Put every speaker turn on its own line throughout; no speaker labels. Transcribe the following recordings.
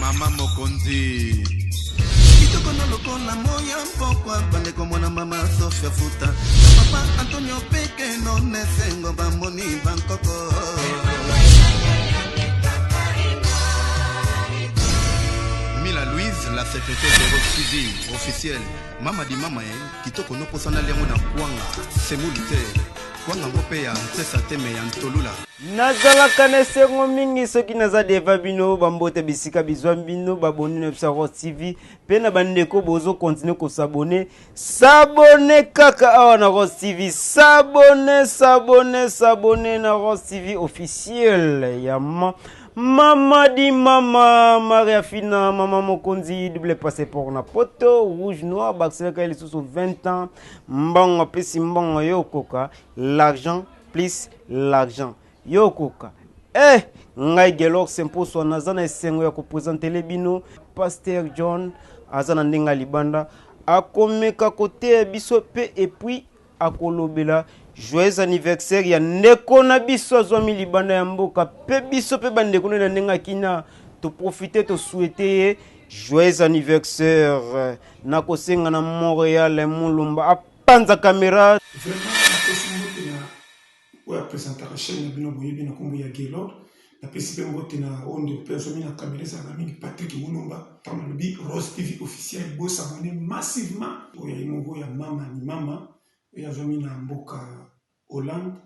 mama mokonzi
kitoko na lokola moya mpokwa bandeko mwana mama sofia futa na papa antonio peke none sengo bamoni bankoko
mila louise la secrétaire de rock tv officielle mama di mama ye kitoko noposana liango na kwanga semoli te kwanga ngo mpe ya nsesa teme ya ntolula Nazalaka
na esengo mingi soki naza deva bino bambote bisika bizwa bino baboni na biso ya Rose TV mpe na bandeko bozo continue kosabone sabone kaka awa na Rose TV sabone sabone sabone na Rose TV officiel ya ma mama di mama maria fina mama mokonzi double passeport na poto rouge noir bakiselaka ye lisusu 20 ans mbongo apesi mbongo yo okoka l'argent plus l'argent yo okoka eh ngai gelor semposwa naza na esengo ya kopresentele bino paster john aza na ndenge ya libanda akomeka koteya biso pe epuis akolobela joyeux anniversaire ya ndeko na biso azwami libanda ya mboka pe biso pe bandeko na ye na ndenge ya kina toprofite tosuete ye joyeux anniversaire nakosenga na montreal mulumba panza camera vraiment napesi
mbote na oyo apresentaka chaine na bino boyebi na nkombo ya gelor napesi mpe mbote na oyo ndeko mpe azomi na kamera ezalaka mingi patrik mulumba ntango alobi rose tv officiel bosabone massivement oyo aye moko ya mama ni mama oyo azomi na mboka hollande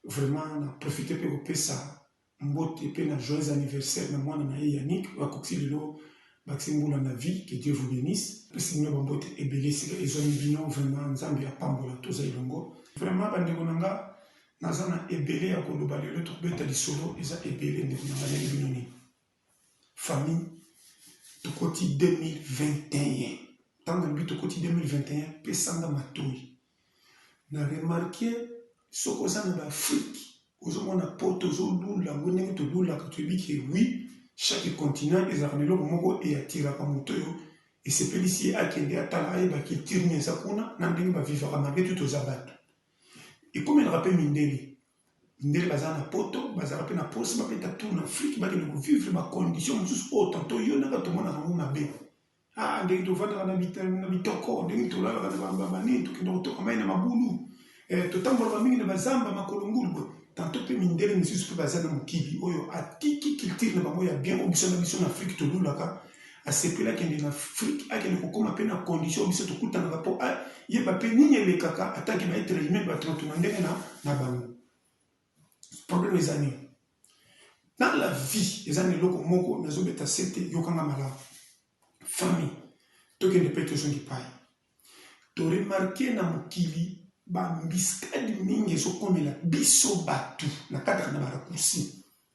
vraiment na profite mpe kopesa Mbote pe na joyeux anniversaire na mwana na ye Yannick oyo akokisi lelo bakisi mbula na vie que Dieu vous benisse. Napesi bino ba mbote ebele esika ezuami bino vraiment nzambe apambola toza elongo. Vraiment ba ndeko na nga naza na ebele ya koloba lelo tokobeta lisolo eza ebele ndeko na nga nayebi bino nini. Famille tokoti 2021 tango nalobi tokoti 2021 pesa nga matoyi na remarquer soki oza na ba afrique ozomona poto ozolula ngo ndenge tolulaka toyebi ke oui chaque continent ezalaka na eloko moko eyatiraka moto oyo esepelisi ye akende atala ayeba culture nini eza kuna na ndenge bavivaka malgre tout toza bato ekomelaka mpe mindele Mindele baza na poto bazala pe na posi babeta tour na afrique bakende ko vivre ba condition mosusu oyo tanto yo nanga tomonaka yango mabe ah ndenge tovandaka na bitoko ndenge tolalaka na bambabani tokenda kotoka mai na mabulu eh, totambolaka mingi na bazamba makolo ngulu boye tanto mpe mindele misusu mpe baza na mokili oyo atiki kiltire na bango ya bien oyo biso na biso na afrike tolulaka Asepeli akende na Afrique, akende kokoma pe na condition oyo biso tokutanaka po ayeba pe nini elekaka en tant que ba etre humain bato na tuna ndenge na bango. Problème eza nini? Dans la vie eza na eloko moko nazo beta sete yoka nga malamu. Famille tokende pe tozonga epayi. To remarquer na mokili ba embuscades mingi ezo komela biso batu na kati ya ba raccourcis.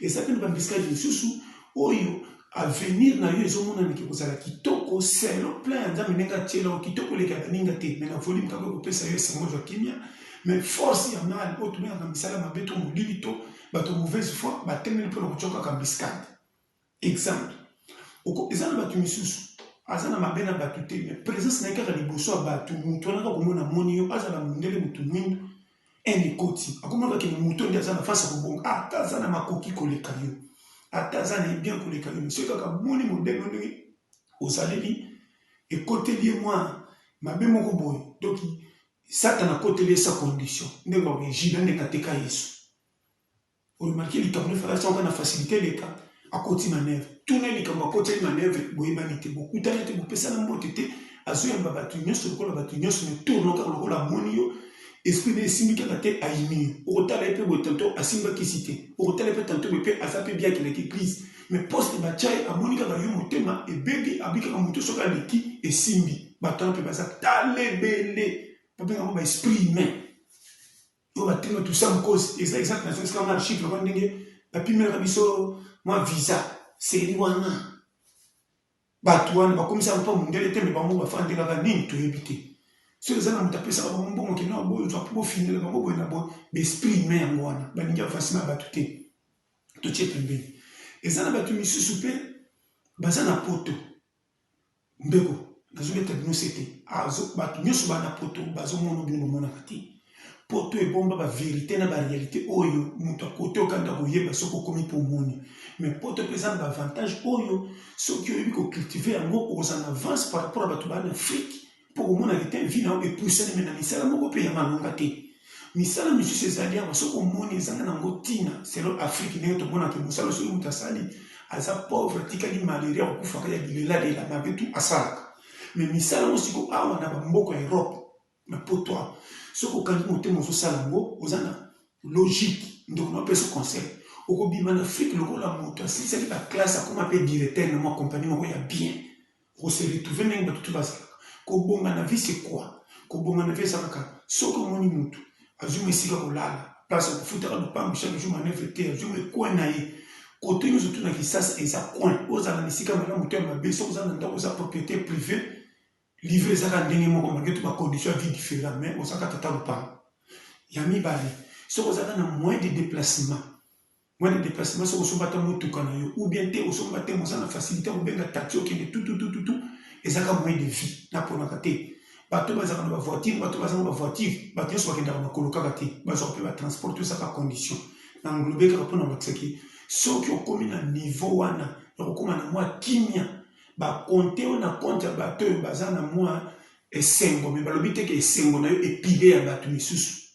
eza mpe na bambisika mosusu oyo avenir na yo ezomonana ke kozala kitoko selon plan ya nzambe ndenge atyela yo kitoko oleka baninga te me na volume kaka ekopesa yo esengo zwa kimia me force ya mal oyo tobengaka misala mabe to molili to bato ya mauvaise foi batemeli mpo na kotya kaka mbiskade Exemple, oko eza na batu misusu aza na mabe na batu te mais presence na ye kaka liboso ya batu mutu wana kaka komona amoni yo azala mundele mutu mwindu haine ekoti akomona kaka kende moto nde aza na face ya kobonga ah, ata aza na makoki koleka yo ata aza na ye bien koleka yo monsieur kaka moni modele oyo ndenge ozaleli ekoteli ye mwa mabe moko boye donc satana akoteli ye sa condition ndenge bakoki jina ndenge ateka yesu O remarquer likambo nde fally asalaka na facilite eleka akoti manœuvre tuna ye likambo akoteli manœuvre boyebani te bokutani te bopesana mbote te azoyamba batu nionso lokola batu nionso mais tour no kaka lokola amoni yo esprit naye esimbi kaka te ayini yo okotala ye pe boye tantot asimbi ba kisi te okotala ye pe tantot boye pe aza pe bien akendaki eglise mais poste batia ye amoni kaka yo motema ebebi abi kaka mutu soki aleki esimbi batu wana pe baza talebele babenga yango ba esprit humain Yo ba tino tu sam kozi eza exact na zongisi ka nga chiffre wana ndenge ba pimelaka biso mwa visa seli wana batu wana ba komisa mpo mundele te me bango ba fandi kaka nini toyebi te soki eza na moto apesaka bango mbongo kende na boyo zwa mpo bofingela bango boye na boye baesprit humain yango wana balingi avasi na bato te totie pembeni eza na bato misusu mpe baza na poto Ndeko nazo beta bino sete azo bato nyoso ba na poto bazo mono bino bomonaka te poto ebomba ba verite na ba realite oyo moto akote okanda koyeba soki okomi po omoni mais poto mpe eza na ba avantage oyo soki oyebi ko cultive yango okozala na avance par rapport ya bato ba na afrique mpo komona ete vi na yo epusaneme na misala moko mpe ya malonga te misala misusu ezali awa soki omoni ezanga nango ntina selo afrike ndenge tomonaka mosala soki moto asali aza pauvre atikali malaria kokufaka ya bilelalela mabe tu asalaka me misala yango siko awa na bamboka ya europe na poto awa soki okangi motema ozosala yango oza na logique ndeko na opesa conseil okobima na afrike lokola moto asilisaki baklasse akoma mpe directeur na mwa kompani moko ya bien Oko se retrouver ndenge batu tout bazalaka. Kobonga na vie c'est quoi? Kobonga na vie eza kaka soki omoni mutu azui mua esika yako lala, place yako futaka lupangu chaque jour manœuvre te, azui mua coin na ye. Cote nionso tout na Kisasa eza coin. Ozala na esika ya malamu to ya mabe soki oza na ndaku eza propriete privee, livre eza kaka ndenge moko malgre tout ba conditions ya vie different mais oza kaka tata lupangu. Ya mibale, soki ozalaka na moyen de deplacement, Mwana deplacement soki osomba ata motuka na yo ou bien te osomba te moza na facilité ya kobenga taxi okende tututututu ezaka moyen de vie naponaka te bato bazalaka na bavoiture bato bazanga bavoiture bato nyonso bakendaka makolo kaka te bazwaka mpe batransport to ezaka condition na nglobe kaka mpo na kolakisaki soki okomi na niveau wana ya kokoma na mwa kimia bakonte oyo na konte ya bato oyo baza na mwa esengo me balobi te ke esengo na yo epide ya bato misusu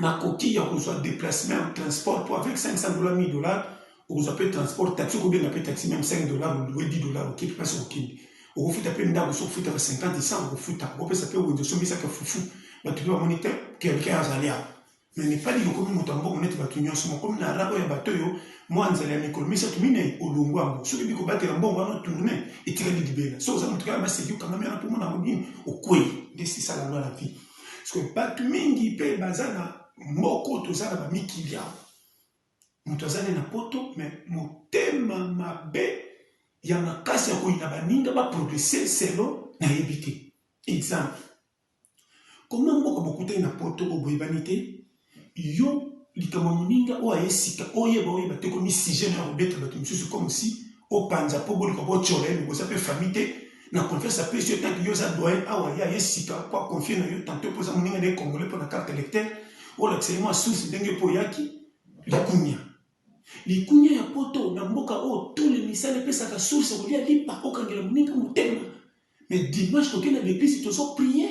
makoki ya kozwa deplacement ya transport po avec 500 dollars 1000 dollars okozwa pe transport taxi okobenga pe taxi meme 5 dollars oluwe 10 dollars oke pe place okokende okofuta pe ndako soki ofutaka 50 100 okofuta okopesa pe wenze osombisaka fufu bato pe bamoni te quelqu'un azali awa na nepali lokomi moto ya mbongo neti bato nyonso mokomi na rabo ya bato oyo mwa nzela ya mikolo misato minei olongwa yango soki ebi kobatela mbongo wana tourne etikali libela soki oza moto kaka maseki okangami wana mpo mona yango nini okwei nde sisala lwa na vie parceke bato mingi mpe baza na moko toza na bamikili yango moto aza nde na poto me motema mabe ya makasi ya koyina baninga baprogrese selo nayebi te exemple koma mboka bokutani na poto oboyebani te Yo likambo ya moninga oyo aye sika oyeba oyeba te okomi sujet nayo ya kobeta batu misusu comme si opanza po boluka botshora ye mais boza pe famille te na confiance apesi yo tanke yo oza doyen awa ye aye sika po a confie nayo tantot po oza moninga naye congolais pona carte electeur olakisa ye mua source ndenge yo pe oyaki likunia likunia ya poto na mboka oyo tout le misala epesaka source kolia lipa okangela moninga motema mais dimanche tokenda na eglise tozo prier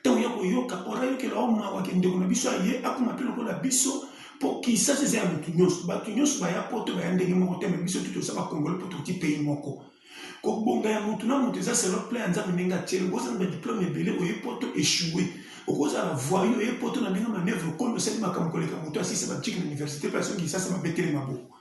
ntango ya koyoka ora ayokela o mawa ke ndeko na biso aye akoma mpe lokola biso mpo kisasa eza ya motu nyonso bato nyonso baya poto baya ndenge moko te me biso tu toza bakongole mpo toti pei moko kobonga ya motu na motu eza selo plan ya nzambe ndenge atieli okozala na badiplome ebele oye poto echoue okozala voyu oye poto na ndenge manevre okomi osali makambo koleka motu asisa baciki na université mpe asongi kisasa babetele maboko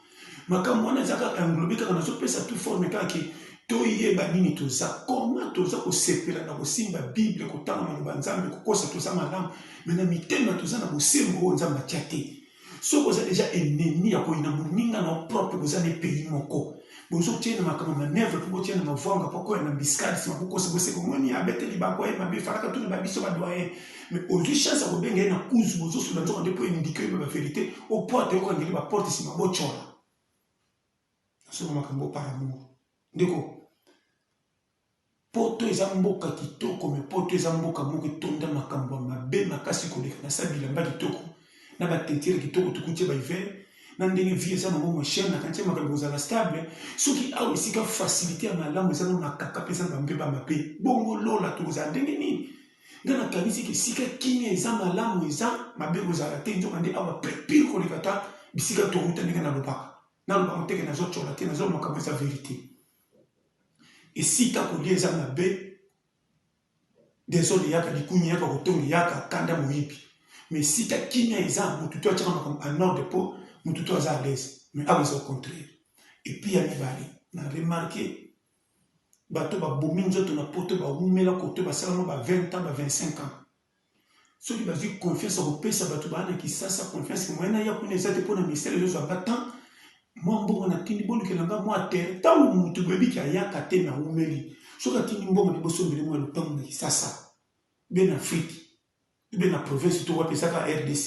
makambo wana eza kaka englobe kaka nazopesa tout forme kaka ke toyeba nini toza koma toza kosepela na kosimba bible kotanga maloba nzambe kokosa toza malamu me na mitema toza na bosembo oyo nzambe atya te soki oza deja enemi ya koyina moninga na propre boza na epayi moko bozotyena makambo manevre mpo botyena mavwanga mpo koya na biskadi nsima bokosa boseko moni abeteli baboye mabe falaka tuna babiso badoyen mais ozwi chance ya kobenga ye na kuzu bozosuna nzoka nde mpo endike oyeba baverité o porte yoko angeli baporte nsima bocola nasoma makambo par amour ndeko poto eza mboka kitoko me poto eza mboka moko etonda makambo ya mabe makasi koleka na sa bilamba kitoko na batentire kitoko tokutie bahiver na ndenge vie eza nango mochene nakantie makambo kozala stable soki awa esika facilité ya malamu eza na makaka mpe eza na bampe bamabe bongo lola tokozala ndenge nini nga nakanisi ke esika kimia eza malamu eza mabe kozala te nzoka nde awa pire koleka ata bisika towuta ndenge nalobaka nalobaka nteke nazotyola te nazolo makambo eza verite esika kolia eza mabe desole yaka likunya yaka kotongi yaka kanda moyibi ma esika kimia eza motu to atyaka makambo anorde mpo motu to aza alaise ma awa eza au contraire epuis ya mibale na remarke Bato babomi nzoto na poto bawumela koto basala mwa ba 20 ans ba 25 ans soki bazwi confiance ya kopesa bato baa na kisasa confiance moyen naya kuna eza te mpo na misala ezozwa nga temps mwa mbongo natindi bolukela nga mwa terre ntango motu boyebi ke ayaka te nawumeli soki atindi mbongo na bosombeli mwa lopango na kisasa be na afriki ube na province to wapi ezaka rdc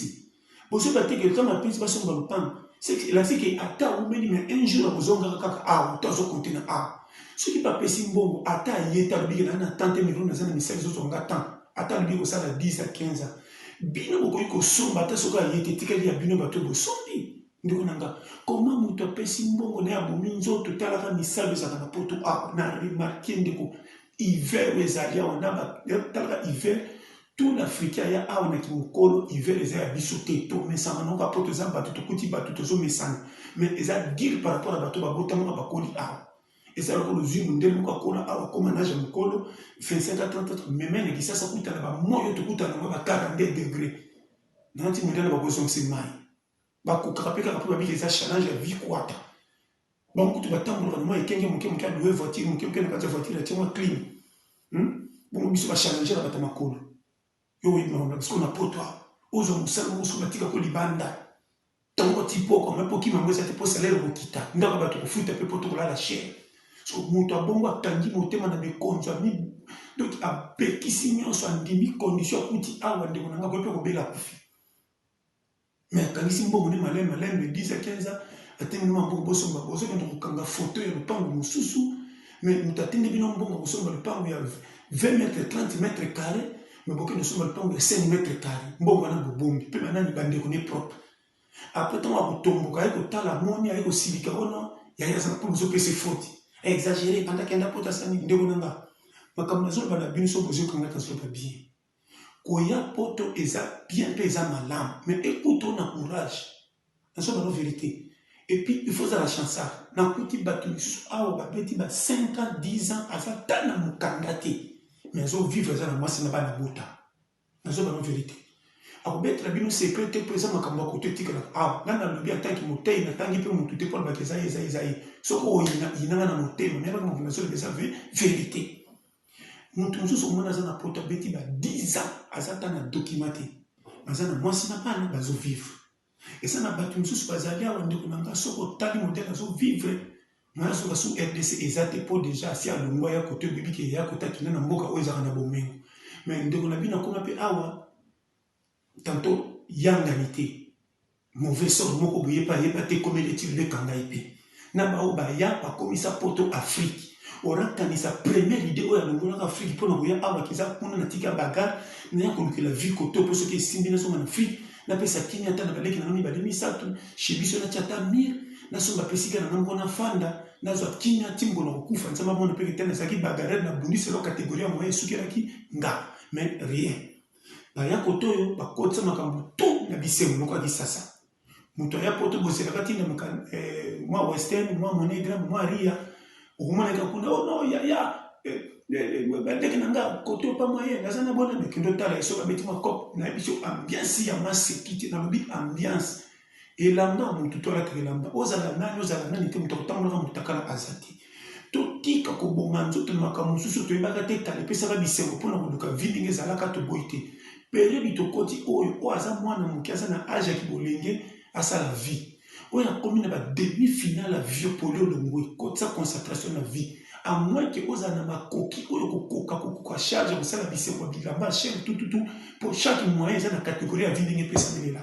bozoba te ke ntango apesi basomba lopango elakisi ke ata aumeli me un jour akozongaka kaka awa to azokote na awa soki bapesi mbongo ata aye te alobi ke naa na temps te mevelo naza na misala ezozwa nga temps ata alobi kosala 10 a 15 ans bino bokoki kosomba ata soki aye te etikali ya bino bato bosombi ndeko na nga koma moto apesi mbongo na ye abomi nzoto talaka misalu ezalaka na poto awa na remarke ndeko Hiver oyo ezali awa na ba talaka hiver tout l'africain aya awa na kimokolo hiver eza ya biso te tomesana na yoka po toza bato tokuti bato tozomesana mais eza dire par rapport ya bato babotamaka bakoli awa eza lokola ozwi mondele moko akola awa akoma na age ya mokolo 25 a 30 meme na kisasa kuta na bamoyo tokutana yango ba 42 degre nanti mondele bakozongisa mai Ba kokaka pe kaka po ba bika eza challenge ya vie kuata. Bango kutu ba tambolaka na mua ekenge muke muke a louer voiture muke muke na kati ya voiture atie mua clim. Hum bongo biso ba challenger ya batu ya makolo. Yo oyebi makambo na biso na poto awa. Ozua musala moko soki ba tika ko libanda. Tango ba tii pokwa mais po kima yango eza te po salaire eko kita. Ndako ya batu oko futa pe poto oko lala chez. So mutu ya bongo a kangi motema na mikonzo a mi donc a pekisi nionso a ndimi condition a kuti awa ndeko na nga boye pe ko bela akufi. Mais akangisi mbongo ne malembe malembe 10 à 15 ans atindi bino mbongo bosomba bozokende kokanga foto ya lopango mosusu mais moto atindi bino mbongo kosomba lopango ya 20 mètre 30 mètre carré mais bokende kosomba lopango ya 5 mètre carré mbongo wana bobombi mpe banani bandeko ne propre après ntango akotomboka aye kotala moni aye kosilika wana yaye aza mpo bozopesa efoti exagere ebandaki anda mpota asani ndeko na nga makambo nazoloba na bino so bozokangaka zoloba bien Koya poto eza bien pe eza malamu mais ekuta yo na courage nazo loba no verite et puis il faut ozala chansard nakuti batu misusu awa babeti ba 5 ans 10 ans aza ata na mukanda te mais azo vivre aza na mwasi na bana abota nazo loba no verite akobetela bino secret te po eza makambo ya koto etikalaka awa nga nalobi en tant que moteyi natangi pe mutu te po alobaka eza ye eza ye eza ye soki oyina yina nga na motema nayebaka makambo nazo loba eza verite Moto mosusu omona aza na poto abeti ba 10 ans aza ata na document te. Aza na mwasi na bana bazo vivre. Eza na bato mosusu bazali awa ndeko na nga soki otali modèle azo vivre mwana soki asu RDC eza te po deja asi alongwa ya kote oyebi ke ya kote akenda na mboka oyo ezalaka na bomengo. Mais ndeko na bino akoma pe awa Tantot yangani te mauvais sort moko boye epa ayeba te ekomeli ye ti lelo ekanga ye pe na ba oyo baya bakomisa poto afrique ora kanisa première idee oyo alongolaka afrique pona koya awa kiza kuna na tika bagarre naya kolukela vie kote oyo po soki esimbi na zonga na afrique na pesa kimia ata na ba leki na nga mibale misatu chez biso natia ata mur na somba pe esika na nga moko na fanda na zwa kimia ti mokolo na kokufa nzambe amona pe ke te nazalaki bagarreur na bundisi alors categorie ya moyen esukelaki nga mais rien Baya poto oyo bakotisa makambo tu na bisengo moko ya kisasa. Moto aya poto bozelaka ti na eh, mwa western mwa monegra mwa ria okomonaka kuna oh no yaya eh, eh, bandeke na nga kote opa moyen naza na bona mekende otala ye soki abeti mwa cop nayebi so ambiance ya maseki te nalobi ambiance elamba ya motu to alataka elamba ozala nani ozala nani te moto akotambolaka motakala aza te totika koboma nzoto na makambo mosusu toyebaka te tala epesaka bisengo mpo na koluka vi ndenge ezalaka toboyi te periode tokoti oyo oyo aza mwana moke aza na age ya kibolenge asala vie oyo akomi na bademi final ya vie poli olongwe kotisa concentration na vie amwin ke ozala na makoki oyo kokoka kokoka charge ya kosala bisengo ya bilamba chaine tututu mpo chaque moyen eza na categorie ya vie ndenge epesamelela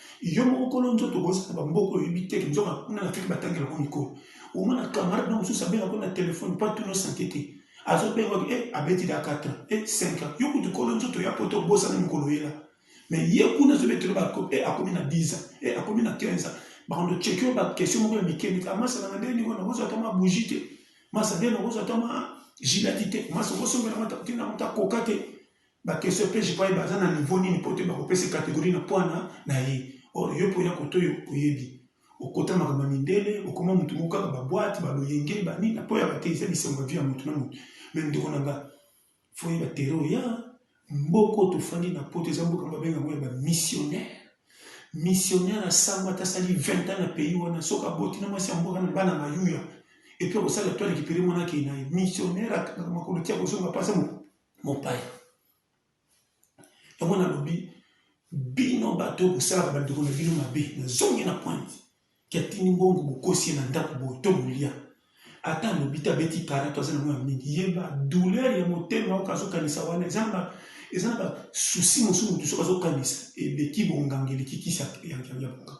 yo moko kolo nzoto bozala bamboko oyebi te nzonga kuna na fiki batangela ngo mikolo omona camarade na mosusu abenga ngo na telefone mpo atuna sante te azobenga e eh, abeti da 4 ans e eh, 5 ans yo kutu kolo nzoto ya poto obosana mokolo oyela me ye kuna azobetela ba e eh, akomi na 10 ans e akomi na 15 ans bakondo cheki yo baquestion moko ya mike mike amasala ah, na ndenge niko nakozwa ata ma bougie te masa nde nakozwa ata ma gilati te masa okosombela mata te na mata koka te Ba question pe je croyais baza na niveau nini po te bako pese categorie na puana na ye or yo pe oya kote oyo oyebi okota makambo ya mindele okoma mutu moko kaka ba boite ba loyenge ba nini apo yaka te eza bisango ya vie ya mutu na mutu mais ndeko na nga fo oyeba tere oya mboka oyo tofandi na poto eza mboka ba benga yango ya ba missionnaire missionnaire asango ata asali 20 ans na pays wana soki aboti na mwasi ya mboka na bana mayuya epuis akosala to alikipere mwana akei na ye missionnaire akanga makolo ti akozonga pasa moko mopaya. Yango nalobi bino bato oyo bosalaka bandeko na bino mabe, nazongi na pointe ke atindi mbongo bokosi ye na ndako boye to bolia ata alobi te abeti kara to aza na mwana mingi ye ba douleur ya motema oyo azokanisa wana eza na ba eza na ba souci mosusu motu soki azokanisa eleki bonganga eleki kisi ya bonganga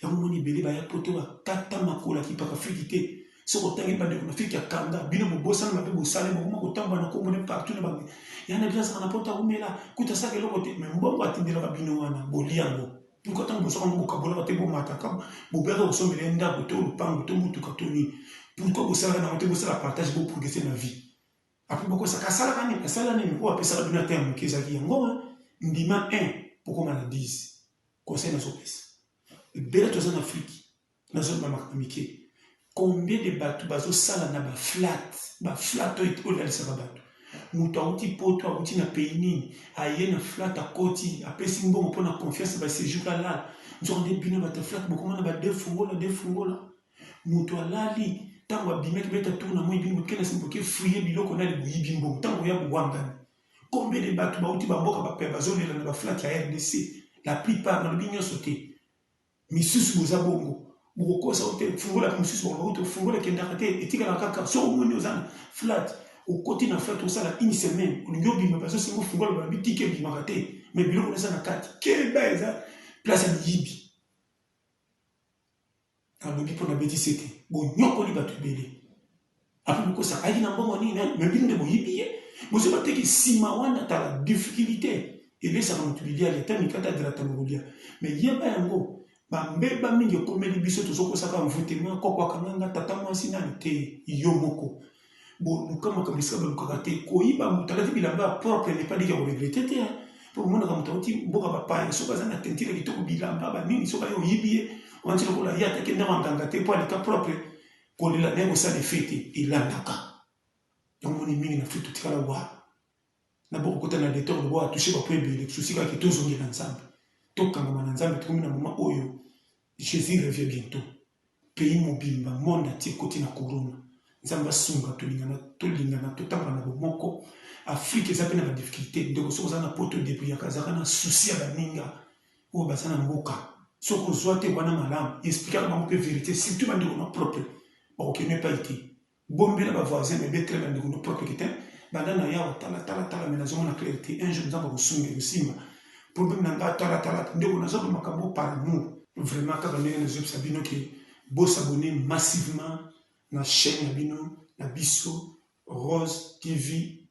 yango moni ebele baya poto bakata makolo ya kipaka fiki te soki otangi bandeko na fiki ya kanda bino bobosana mabe bosali bokoma kotambola na kombo ne partout na bango yana bino azaka na poto awumela kuta asaka eloko te me mbongo atindelaka bino wana boli yango mpo ntango bosaka yango bokabolaka te bomataka bobeyaka kosombela ye ndako to lopango to motuka to nini pourkoi bosalaka nango te bosala partage boprogrese na vie apres bokosaka asalaka nini asala nini oyo apesaka bino ata ya moke ezalaki yango ndima 1 bokoma na 10 Conseil nazo pesa. Ebele toza na Afrique nazo loba makambo mike. Combien de bato bazo sala na ba flat, ba flat oyo olalisaka bato. Moto awuti poto, awuti na pays nini, aye na flat akoti, apesi mbongo mpo na confiance ba sejour alala. Nzokande bino bato ya flat bokomona ba deux fungola, deux fungola. Moto alali ntango abimaki beta tour na moi bino boke na sima boke fouiller biloko nani boyibi mbongo ntango oya bowangani. Combien de batu bauti ba mboka ba paya bazolela na ba flat ya rdc? La plupart, nalobi nionso te, misusu boza bongo. Bokokosa yo te, fungola pe mosusu bakoloba kutu fungola ekendaka te, etikala kaka. Soki omoni oza na flat, okoti na flat osala une semaine, olingi obima bazosenga ofungola balobi tika ebimaka te, mais biloko wana eza na kati. Keba eza place ya miyibi. Nalobi mpo nabebi sete bonyokoli bato ebele. Ape bokosa ayi na mbongo nini eh? me bino nde boyibi ye bosi bateki nsima wana tala difficulté ebesaka moto biliali ata mikata grata mokolia me yeba yango bambeba mingi ekomeli biso tozokosaka mvutema koko akanganga tata mwasi nani te yo moko boluka makambo esika balukaka te koyiba moto alati bilamba ya propre n'est pas dit ya koregrete te mpo omonaka moto auti mboka bapaya soki aza na tentire ya kitoko bilamba banini soki aye oyibi ye wanti lokola ye atake ndako ya nganga te mpo aleka propre kolela naye kosala efe te elandaka yango moni mingi na afrika totikala wa na boko kota na detor lobo a touche ba point ebele souci kaka to zongela nzambe to kangama na nzambe tokomi na moment oyo Jesus revient bientôt pays mobimba monde entier koti na corona nzambe asunga tolingana tolingana totambala na bomoko afrike eza mpe na badifficulté ndeko soki oza na poto debriyaka azalaka na souci ya baninga oyo baza na mboka soki ozwa te wana malamu esplikaka bango mpe verité surtout bandeko na propre bakokende epai te Bombela ba voisins bebe très ba ndeko no propre que tein banda na yawa tala tala tala mais nazo mona claire te un jour nzambe akosunga ekosimba problème na nga tala tala ndeko nazo ba makambo par amour vraiment kaka ndenge nazo yebisa bino ke bo s'abonner massivement na chaîne na bino na biso Rose TV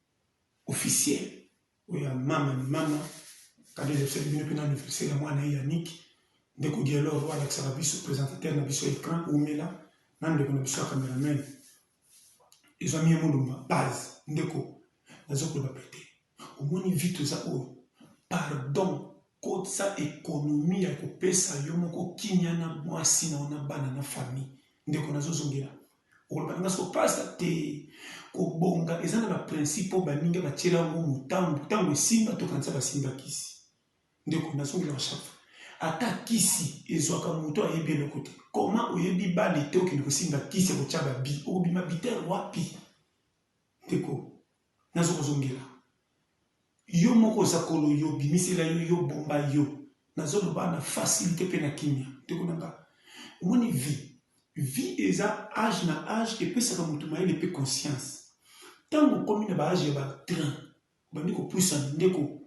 officiel Oyo ya mama ni mama kado elakisaki bino pena anniversaire ya mwana ye ya Nick ndeko Guelor oyo alakisaka biso presentateur na biso ecran umela na ndeko na biso ya cameraman ezwami ye molumba base ndeko nazo koloba pete omoni vie toza oyo pardon kotisa ekonomi ya kopesa yo moko kimia na mwasi na yo na bana na famille ndeko nazozongela Oloba na nga soko pasta te kobonga eza na ba principe oyo baninga batiela yango motambo ntango esimba tokanisa basimba kisi ndeko nazongela chaque fois ata kisi ezwaka moto ayebi eloko te koma oyebi bale te okende kosimba kisi ya kotya babi okobima biter wapi ndeko nazo kozongela yo moko oza kolo yo bimisela yo yo bomba yo nazo loba na facilite pe na kimia ndeko na nga omoni vie vie eza age na age epesaka moto mayele pe conscience ntango okomi na ba age ya ba 30 obandi kopusana ndeko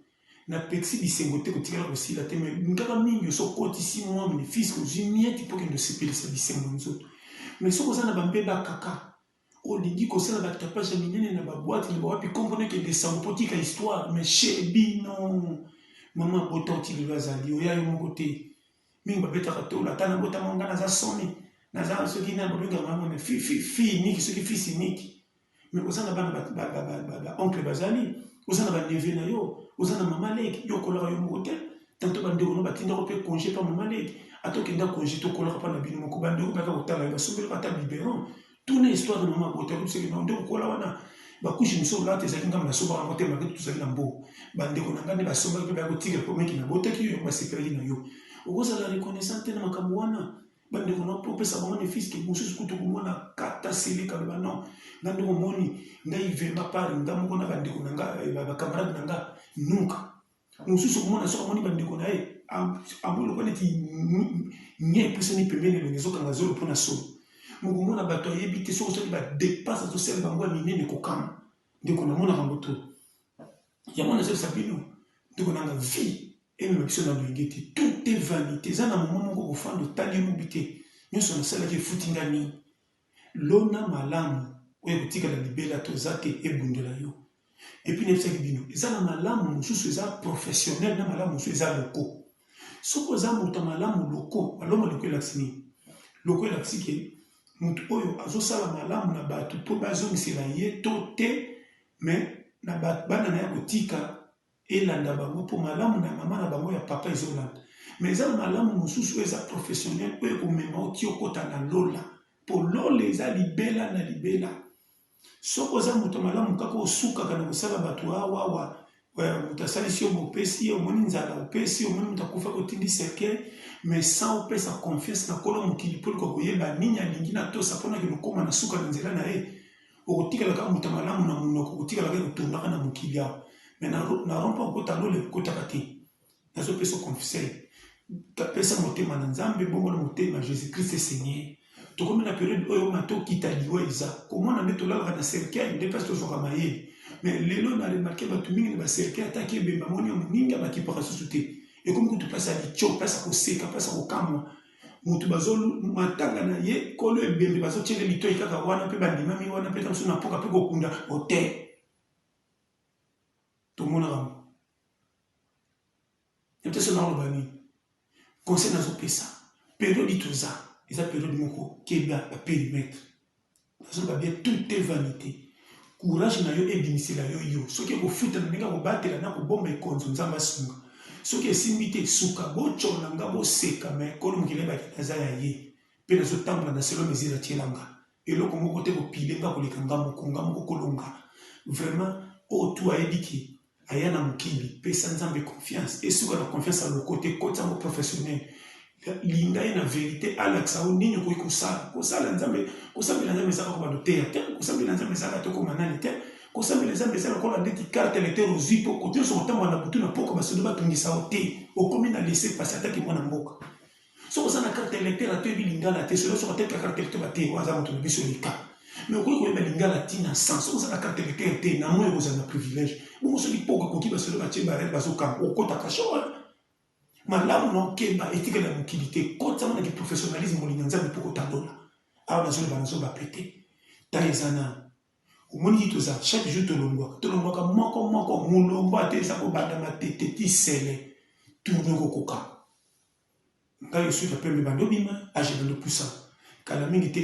na pekisi bisengo te kotikala kosila te mai ngaka mingi oso okotisi mwa benefice ozwi mieti mpo kende osepelisa bisengo nzoto mai soki oza na bambeba kaka Olingi kosala ba tapage ya minene na ba boite na ba wapi kombo no ekende sango po otika histoire mais chez bino maman abota ti lelo azali oya yo moko te mingi babetaka tolo ata nabotama nga naza soni naza soki na babengaka nga mwana fi fi fi niki soki fi si niki mais oza na bana ba oncle bazali oza na ba neveu na yo oza na mama leki yo okolaka yo moko te Tantôt ba ndeko no ba tindaka pe conge pa maman leki ata okenda conge to kolaka pa na bino moko ba ndeko baka kotala yo ba sombelaka ata biberon tuna histoire maman abota yo biseke non nde okola wana ba couche mususu olata ezalaki nga na sombaka yango te ma ketu tozali na mbo ba ndeko na nga nde ba sombaki pe ba ko tika ko meki na botaki yo ba sepelaki na yo okozala reconnaissant te na makambo wana bandeko na mpo opesa bango nefisi ke mosusu kutu komona kata seleka loba non nga ndeko omoni ngai vraimen par nga moko na bandeko na nga eh, bakamarade na nga nunka mosusu okomona soki amoni bandeko na ye amoni lokola neti nye epusani pembeni elongi ezokanga zolo mpo na solo mokomona bato ayebi te soki osali badepense azosala bango ya minene kokama ndeko namonaka yango to yango nazalisa bino ndeko nanga vie emema biso na loyenge te tout est vanité eza na momo moko kofanda otali mobi te nyonso nasalaki efuti nga nini Lona malamu oyo ekotikala libela toza te ebundela yo epuis nayebisaki bino eza na malamu mosusu eza professionnel na malamu mosusu eza loko soki oza moto ya malamu loko maloma loko elakisi nini loko elakisi ke moto oyo azosala malamu na bato mpo bazongisela ye to te me na bana na ye akotika elanda bango po malamu na maman na bango ya papa ezolanda mais eza na malamu mususu oyo eza professionnel oyo ekomema yo ti okota na lola po lola eza libela na libela soki oza moto malamu kaka osukaka na kosala bato awawa moto asalisi yo bopesi ye omoni nzala opesi omoni moto akufa kotindi cercueil mais sans opesa confiance na kolo mokili mpo likokoyeba nini alingi natosa mpo na kilokoma na suka na nzela na ye okotikala kaka moto ya malamu na monoko okotikala kaka kotondaka na mokili awa me na rompa okota lola ekotaka te nazopesa conseil pesa motema na nzambe bongo na motema jésus christ seigneur tokomi na periode oyo mata okita liwa eza komona nde tolalaka na cercueil nde mpasi tozwaka mayele me lelo na remarke bato mingi na bacercueil ataki ebemba moni ya moninga bakipaka susu te ekomi kutu mpasi ya lico mpasi ya koseka mpasi ya kokamwa moto bazo matanga na ye kolo ebembe bazotyele litoi kaka wana mpe bandimami wana mpe mosusu na mpoka mpe kokunda ote tomonaka yango yote so naoloba nini conseil nazopesa periode toza eza periode moko keba baperimetre Nazo ba bien tout est vanite. Courage na yo ebimisela yo yo. Soki eko futa na ndenge ya ko batela na ko bomba ekonzo Nzambe asunga. Soki esimbi te suka bo tshola nga bo seka mais kolo mokili ayebaki naza ya ye pe nazo tambola na selon mesure atiela nga. Eloko moko te eko pile nga koleka nga moko nga moko kolo nga. Vraiment oyo tout ayebi ke Aya na mokili, pesa Nzambe confiance, esuka na confiance ya lokote, kotisa yango professionnel, linga ye na verite, alakisa yo nini okoki kosala, kosala Nzambe, kosambela Nzambe eza kaka ba loteya te, kosambela Nzambe eza kaka te okoma nani te, kosambela Nzambe eza lokola ndeti carte electeur ozui po kote nionso okotambola na butu na pokua basoda batungisa yo te, okomi na laisse passer ata ki mwana mboka. soki oza na carte électeur atoyebi lingala te solo soki ateka carte électeur bate oyo aza moto na biso leka mais okoki koyeba lingala ntina sans soki oza na carte électeur te na moi okozala na privilège bongo soki mpo okoki basolo batie barel bazokanga okotaka shore malamu na okemba etikali ya mokili te kotisama na kiprofessionnalisme molinga nzambe mpo kotandola awa nazoloba nazoba mpe te ntango eza nano omoni ye toza chaque jour tolongwaka tolongwaka moko moko molongo ata eza kobanda matete ti sele tourne kokoka Ngayo suite ya pembe bando bima age bando pusa kala mingi te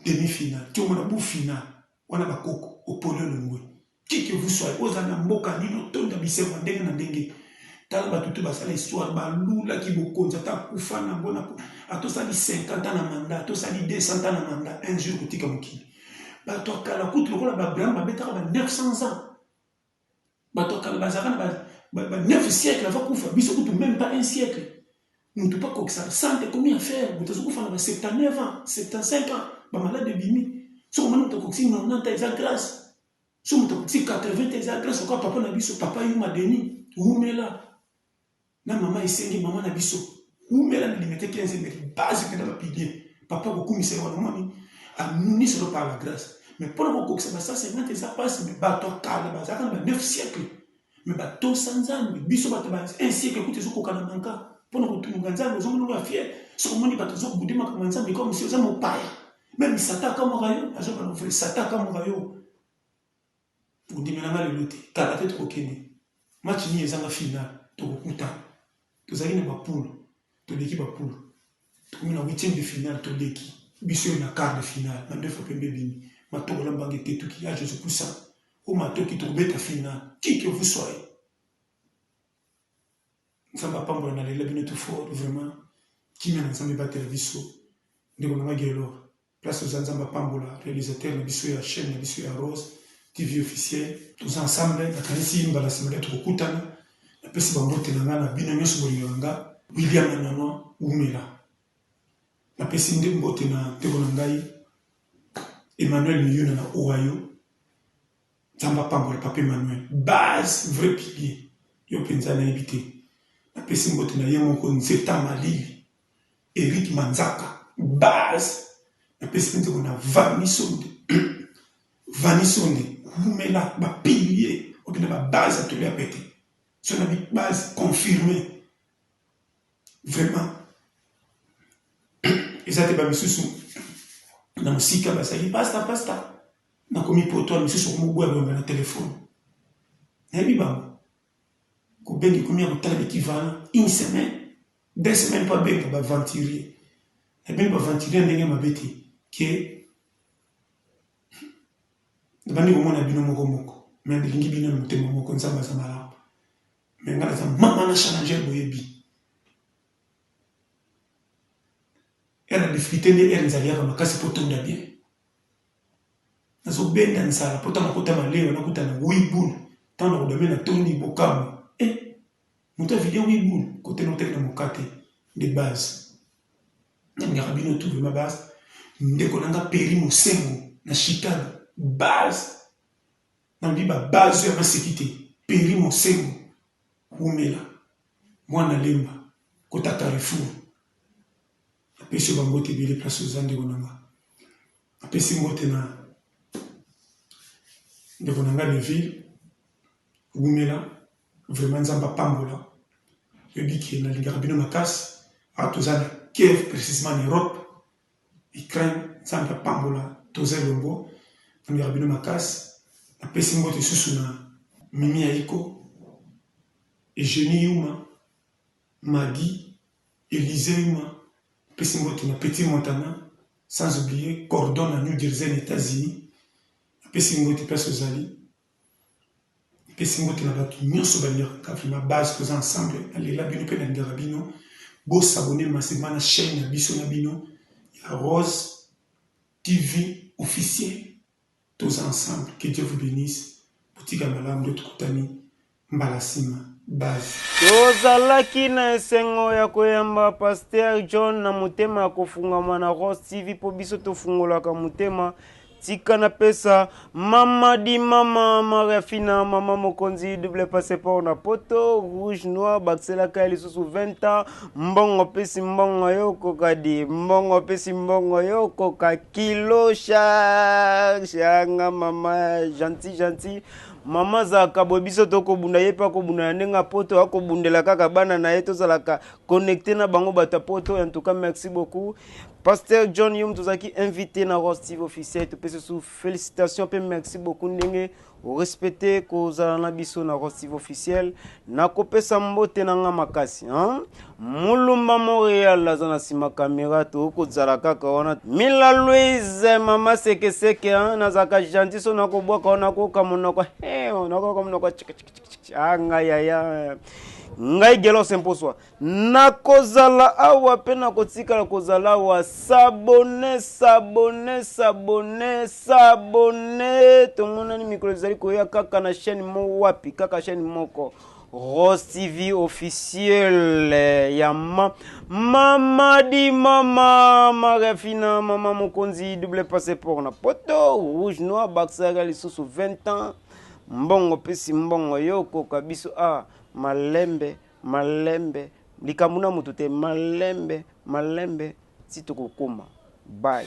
demi final ti omona bu final wana ba koko opole longwe qui que vous soyez oza na mboka nini otonda bisengo ndenge na ndenge tala bato te basala histoire balulaki bokonzi ata akufa na yango ata osali 50 ans na manda ata osali 200 ans na manda un jour kotika mokili bato ya kala kutu lokola babraham babetaka ba 900 ans Bato ya kala bazalaka na ba, ba, ba 9 siècle avant kufa, biso kutu meme pas un siècle. Moto pe akokisaka 100 te, ekomi affaire, moto azokufa na ba 79 ans, 75 ans, ba malade ebimi. Soki omoni moto akokisi 90 ans, eza grace. Soki moto akokisi 80 ans, eza grace, lokola papa na biso, papa Yuma Denis, wumela. na maman esengi maman na biso wumela na limete 15 mais base pena ba pilier papa kokumisa wana moni a nuni solo par la grâce mais pona kokokisa ba 150 eza pasi mais bato ya kala bazalaka na ba 9 siècle mais batosa nzambe biso bato ba 1 siècle kutu ezokoka na manka pona kotunga nzambe ozomona ba fier soki omoni bato ozobude makambo ya nzambe kaka mosi oza mopaya meme sata akamwaka yo azobana vrai sata akamwaka yo Bondimela nga lelo te, kala te tokokende match nini ezanga final tokokutana tozalaki na ba poule toleki ba poule tokomi na huitième de finale toleki biso ye na quart de finale mandefu pembe ebimi matobola mbanga etetuki ya jesus pusa o matoki tokobeta finale qui que vous soyez nzambe apambola na lela bino tout fort vraiment kimia na nzambe batela biso ndeko na nga gelor Place oza nzambe apambola realisateur na biso ya chaine na biso ya rose TV officiel. Toza ensemble nakanisi mbala sima nde tokokutana napesi bambote na nga na bino nyonso bolingaka nga William na nano wumela napesi nde mbote na ndeko na ngai Emmanuel Miyuna na Ohio nzambe apambola papa Emmanuel base vrai pilier yo mpenza nayebi te napesi mbote na ye moko nzeta malili Eric manzaka. Base na pesi pe nzembo na vanny sonde vanny sonde wumela ba pilier oyo pena ba base ya toli ya pete soki na bi base confirme vraiment eza te ba misusu na mosika bazali pasta pasta na komi poto misusu okomi oboya boyamba na telephone nayebi bango Kobenga ekomi ya kotala bikivana une semaine deux semaines mpo abenga baventurier nabengi baventurier ndenge mabe te ke nabandi komona bino moko moko me bilingi bino na motema moko nzambe aza malamu me ngai naza mama na challengeur boyebi ere difficulté nde ere nzali yaka makasi mpo tonda bien Nazo benda nzala pota na kota na lewa na kuta na oui boul tango na kodame na toni bo kamwa eh moto a vide oui boul kote na kutaki na mokate nde base na lingaka bino tout vraiment base ndeko na nga peri mosengo na chicago base na lobi ba base ya maseki te peri mosengo wumela mwana lemba kota carrefour Napesi yo ba mbote ebele place oza ndeko na nga. Napesi mbote na ndeko na nga Neville, wumela, vraiment Nzambe apambola. Oyebi ke nalingaka bino makasi, awa toza na Kiev precisement na Europe, Ukraine, Nzambe apambola, toza elongo, nalingaka bino makasi. Napesi mbote lisusu na Mimi Ayiko, Eugenie Yuma, Maggie, Elizeima, pesi mbote na Petit Montana, sans oublier Gordon na New Jersey na Etats-Unis, na pesi mbote place ozali, na pesi mbote na batu nionso balingaka nga vraiment base toza ensemble, na lela bino pe na lingaka bino, bo s'abonner massivement na chaine na biso na bino ya Rose TV officiel. Toza ensemble que Dieu vous benisse botika malamu nde tokutani mbala sima base. Tozalaki
na esengo ya koyamba Pasteur John na motema ya kofungwama na Rose TV mpo biso tofungolaka motema. Tika na pesa mama di mama Maria Fina mama mokonzi double passeport na poto rouge noir bakiselaka ye lisusu 20 ans Mbongo pesi mbongo yo koka di mbongo pesi mbongo yo koka kilo charge yanga mama gentil gentil mama zaka boye biso tokobunda ye mpe akobunda na ndenge ya poto akobundela kaka bana na ye tozalaka connecte na bango bato ya poto en tout cas merci beaucoup pasteur john yom tozalaki invité na rostive officiel topesi su félicitation mpe merci beaucoup ndenge O respecte ko zala na biso na Ross TV officiel na ko pesa mbote na nga makasi hein Mulumba Montreal aza na sima kamera to ko zala kaka wana Mila Louise mama seke seke hein na zaka gentil so na ko bwaka wana ko ka monoko he na ko ka monoko chik chik chik chik ah nga yaya ngai gelos mposwa Nakozala awa pe nakotikala kozala awa s'abonne s'abonne s'abonne s'abonne tomonani mikolo ezali koya kaka na chaîne mo wapi kaka chaîne moko Rose TV officiel ya ma mama di mama Maria Fina mama mokonzi double passeport na poto rouge noir bakisaka lisusu 20 ans mbongo pesi mbongo yo okoka biso a ah, malembe Malembe likambo na mutu te malembe malembe ti tokokoma bye.